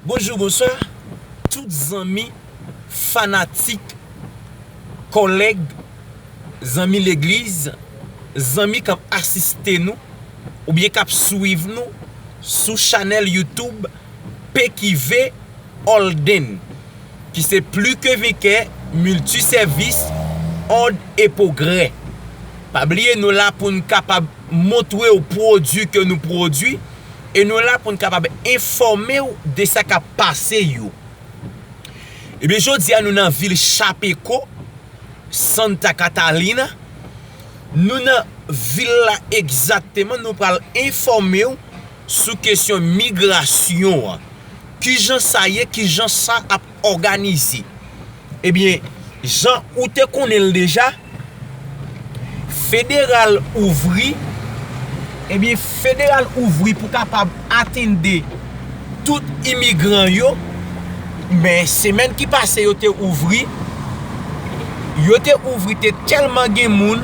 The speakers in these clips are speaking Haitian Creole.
Bonjou bonswa tout zanmi fanatik kòlèg zanmi legliz zanmi kap asiste nou oubyen kap swiv nou sou chanèl youtoub PQV Holden ki se pli ke venkè milti sèvis òd e pwogrè pa bliye nou la poun kapab montre w pwodui ke nou pwodui e nou la pou n kapab enfòme w de sa k ap pase yo. Ebyen jodi a nou nan vil Chapecó, Santa Catalina, nou nan vil la egzakteman nou pral enfòme w sou kesyon migrasyon an. Kijan sa ye, kijan sa ap òganize. Ebyen jan ou te konnen l deja federal ouvri ebyen federal ouvri pou kapab atende tout imigran yo men semèn ki pase yo te ouvri yo te ouvri te tèlman gen moun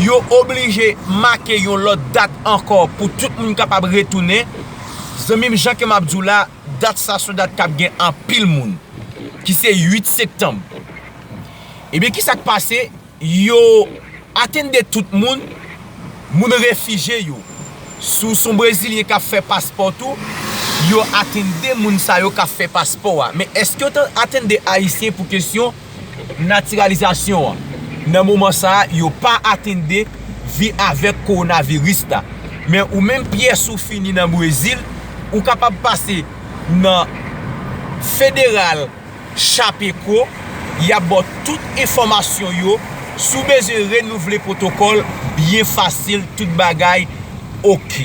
yo oblije make yon lòt dat ankò pou tout moun kapab retounen zanmi m jan ke m ap di w la Dat sa son dat kap gen anpil moun ki se 8 sektanm. Ebyen ki sak pase yo atende tout moun, moun refije yo. Si w son brezilyen kap fè paspò tou, yo atende moun sa yo kap fè paspò a. Men eske yo atende ayisyen pou kesyon natiralizasyon an nan moman sa a yo pa atende vi avèk kowonaviris la. Men ou menm pyès ou fini nan Brezil, ou kapab pase nan federal Chapeco y ap ba w tout enfòmasyon yo, si w bezwen renouvle pwotokòl byen fasil tout bagay ok.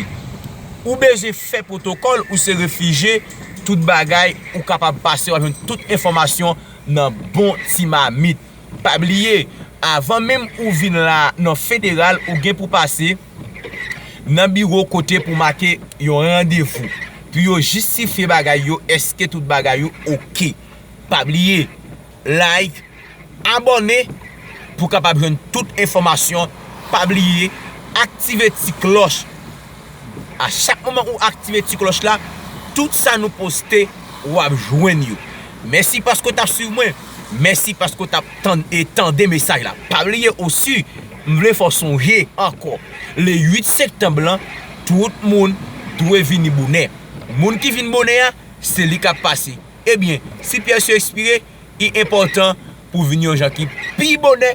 Ou bezwen fè pwotokòl ou se refije tout bagay ou kapab pase w ap jwenn tout enfòmasyon nan bon ti mamit. Pa bliye, avan menm ou vin la nan federal ou gen pou pase nan biwo kote pou make yon randevou pou yo jistifye bagay yo eske tout bagay yo ok. Pa bliye like, abòne pou kapab jwenn tout enfòmasyon, pa bliye aktive ti klòch. A chak moman ou aktive ti klòch la tout sa nou poste wap jwenn yo. Mèsi paske w tap swiv mwen, mèsi paske w tap tann e tande mesaj la. Pa bliye osi m vle fè w sonje ankò le 8 sektanb lan tout moun dwe vini bonè. Moun ki vin bonè a se li kap pase. Ebyen si pyès yo espire, li enpòtan pou vini yon jan ki pi bonè.